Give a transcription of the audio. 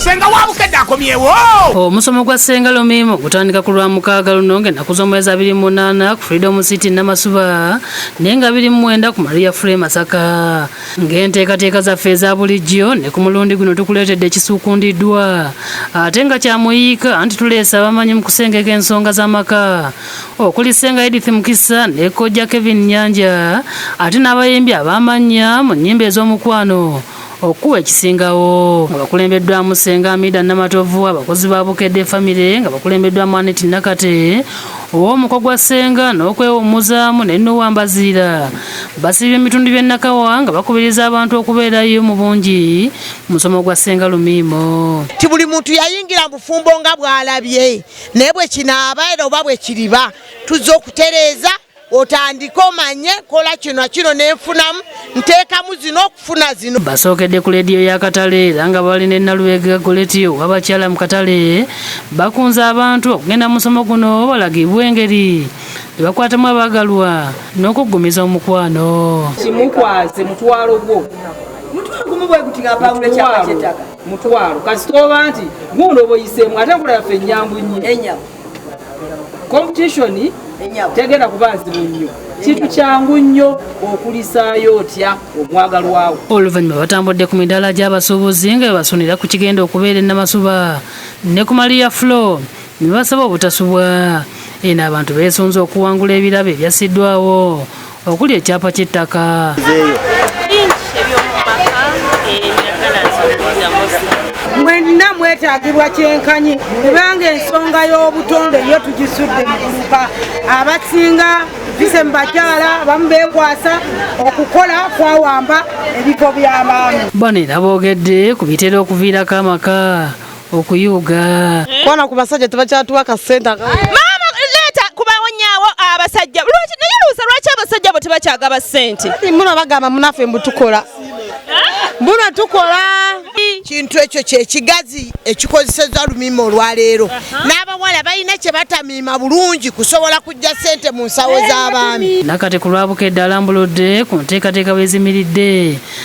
senga wabukedde akomyewo omusomo oh, gwa senga lomiimo gutandika ku lwa mukaaga luno ng'ennaku z'omwezi abiri munaana ku freedom city namasuba naye nga biri mumwenda ku maria fre masaka ng'enteekateeka zaffe eza bulijjo ne ku mulundi guno tukuleetedde ekisuukundiddwa ate nga kyamuyiika anti tuleesa abamanyi mu kusengeka ensonga z'amaka okuli senga edith mukisa ne kojja kevin nyanja ate n'abayimbi abaamannya mu nnyimba ez'omukwano okukuba ekisingawo nga bakulembeddwamu senga amida namatovu abakozi ba bukedde famire nga bakulembeddwamu anet nakate ow'omuko gwa senga n'okwewummuzaamu ne nowa mbaziira basiibye ebitundu by'e nakawa nga bakubiriza abantu okubeerayo mu bungi mu musomo gwa senga lumiimo ti buli muntu yayingira bufumbo nga bw'alabye naye bwe kinaaba era oba bwe kiriba tuzze okutereeza otandike omanye kola kino kino nenfunamu nteekamu zino okufuna zino basookedde ku leediyo ya katale era nga bali ne nalubega goletiyo wabakyala mu katale bakunze abantu okugenda musomo guno balagibwa engeri ebakwatamu abaagalwa n'okuggumiza omukwano kimukwaze mutwalo gwo mutwalo gumu bweguti nga pawulo ekyapa kyetaka mutwalo kasitooba nti guuno boyiseemu ate nkola yaffe enyangu nnyo competition tegenda kuba nzibu nnyo kintu kyangu nnyo okulisaayo otya omwagalwawo oluvannyuma batambudde ku midaala gy'abasuubuzi nga bebasunira ku kigenda okubeera ennamasuba ne ku maliya flo ne basaba obutasubwa eno abantu beesunze okuwangula ebirabo ebyasiddwawo okuli ekyapa ky'ettaka mwenna mwetagibwa kyenkanyi kubanga ensonga y'obutonde yo tugisudde mukuluka abasinga bise mubakyala bamu bekwasa okukola kwawamba ebifo by'abaami bano era boogedde ku bitera okuviirako amaka okuyuga kwana ku basajja tebakyatuwa akasente maama leeta kubawonyawo abasajja lwaki naye luusa lwaki abasajja abo tebakyagaba sente muno bagamba munaffe mbu tukola mbuno tukola kintu ekyo kyekigazi ekikozeseza lumima olwaleero n'abawala balina kye batamiima bulungi kusobola kujja sente mu nsawo z'abaami nakati ku lwabukedde alambuludde ku nteekateeka bwezimiridde